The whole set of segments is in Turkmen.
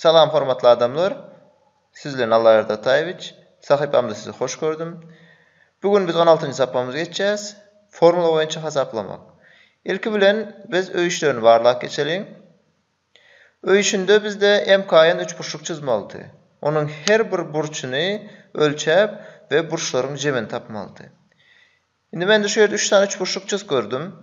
Salam hormatly adamlar! Siz bilen Alla Erdataýewiç! Sahypamda sizi hoş gördüm. Bu gün biz on altynjy sapamyzy geçýäs, Formula boýunça hasaplamak. Ilki bilen biz öý işlerini barlap geçeliň. Öý işinde bizde MKN üçburçluk çyzmalydy. Onuň her bir burçuny ölçäp we burçlaryň jemini tapmalydy. Indi mende şu ýerde üç sany üçburçluk çyz gördüm.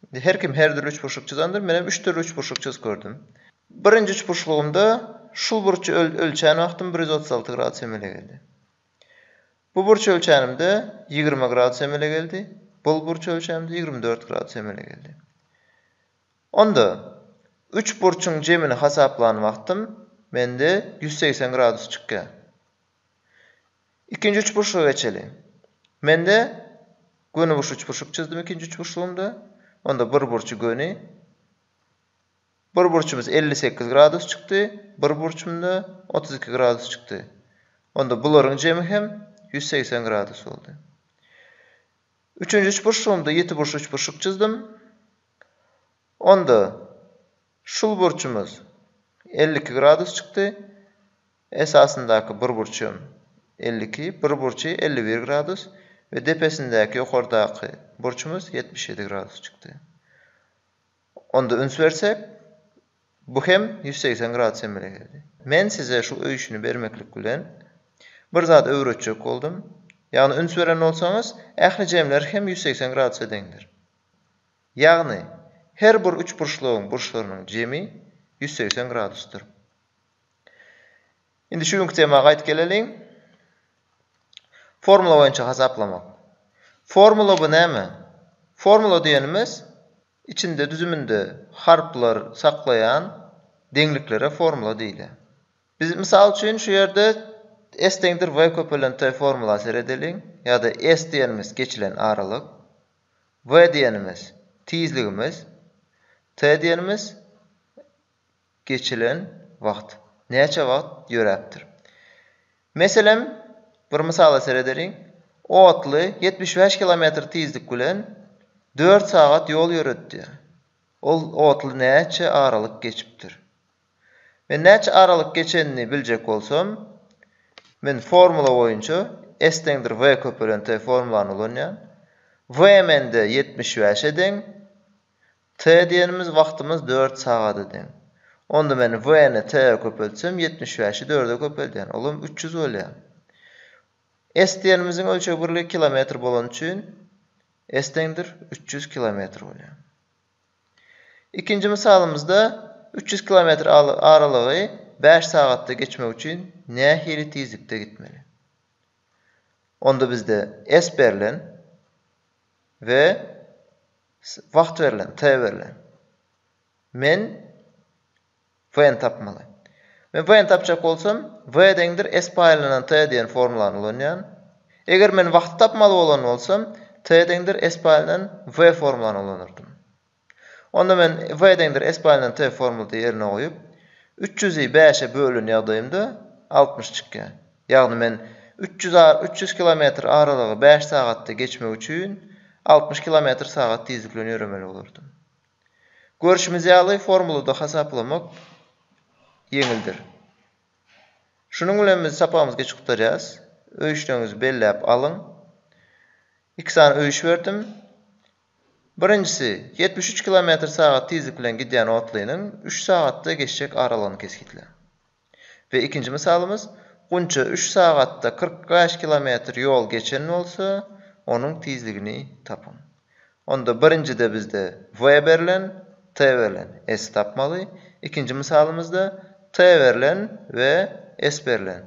Indi her kim her dürli üçburçluk çyzandyr, menem üç dürli üçburçluk çyz gördüm. Birinji üçburçlugymda şul burçy ölçän wagtym bir ýüz otuz alty gradus emele geldi. Bu burçy ölçänimde ýigrimi gradus emele geldi, bul burçy ölçänimde ýigrimi dört gradus emele geldi. Onda üç burçuň jemini hasaplan wagtym mende ýüz segsen gradus çykýar. Ikinji üçburçluga geçeli. Mende gönüburç üçburçluk çyzdym ikinji üçburçlugymda. Onda bir burçy göni. Bir burçumyz elli sekiz gradus çykdy, bir burçumda otuz iki gradus çykdy. Onda bularyň jemi hem ýüz segsen gradus boldy. Üçünji üçburçlugymda ýetiburçly üçburçluk çyzdym. Onda Şul burçumyz elli iki gradus çykdy, esasyndaky bir burç hem elli iki, bir burçy elli bir gradus we depesindäki, ýokardaky, burçumyz ýetmiş ýedi gradus çykdy. Onda üns bersek, bu hem ýüz segsen gradus emele geldi. Men size şu öýşüni bermeklik bilen bir zat öwretjek boldum, ýagny üns beren bolsaňyz, ähli jemler hem ýüz segsen gradusa deňdir. Ýagny, her bir üçburçlugyň burçlarynyň jemi ýüz segsen gradusdyr. Indi şu günki tema gaýt geleliň. Formula boýunça hasaplamak. Formula bu näme? Formula diýenimiz içinde düzüminde harplar saklaýan deňliklere formula diýilýär. Biz mysal üçin şu ýerde S deňdir V köpelen T formula seredeliň ýa-da S diýenimiz geçilen aralyk. V diýenimiz, tizligimiz. T diýenimiz, geçilen wagt. Näçe wagt ýöräpdir. Meselem, bir mysala seredeliň. Otly ýetmiş bäş kilometr tizlik bilen dört sagat ýol ýöretdi. Ol otly näçe aralyk geçipdir? Men näçe aralyk geçenini biljek bolsam, men formula boýunça S deňdir V köpelen T formulany ulanýan. V mende ýetmiş bäşe deň. T diýenimiz wagtymyz dört sagada deň. Onda men V-ni T-e köpeltsem, ýetmiş bäşi dörde köpeldýän, olam üç ýüz bolýar. S diýenimiziň ölçeg birligi kilometr bolany üçin S deňdir üç ýüz kilometr bolýar. Ikinji mysalymyzda üç ýüz kilometr aralygy bäş sagatda geçmek üçin nähili tizlikde gitmeli? Onda bizde S berlen we wagt berlen, T berlen. Men W-ni tapmaly. Men W-ni tapjak bolsam, W deňdir S paýlanan T diýen formulany ulanýan. Eger men wagty tapmaly bolan bolsam, T deňdir S paýlanan W formulany ulanardym. Onda men W deňdir S paýlanan T formulty ýerine goýup, üç ýüzi bäşe bölen ýagdaýymda altmyş çykýar. Ýagny men üç ýüz ar üç ýüz kilometr aralygy bäş sagatda geçmek üçin altmyş kilometr sagat tizlik bilen ýöremeli bolardym. Görşümiz ýaly, formulada hasaplamak ýeňildir. Şunuň bilen biz sapagymyzy geçip gutarýarys. Öýüşleriňizi belläp alyň. Iki sany öýüş berdim. Birinjisi, ýetmiş üç kilometr sagat tizlik bilen gidýän otlynyň üç sagatda geçjek aralygyny kesgitläň. We ikinji mysalymyz, Gunça üç sagatda kyrk bäş kilometr ýol geçen bolsa, onuň tizligini tapyň. Onda birinjide bizde W berlen, T berlen, S tapmaly. Ikinji mysalymyzda T berlen we S berlen.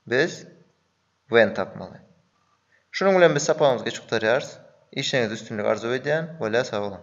Biz W-ni tapmaly. Şunuň bilen biz sapagymyzy geç gutarýarys. Işiňizde üstünlik arzuw edýän. Wele sag boluň.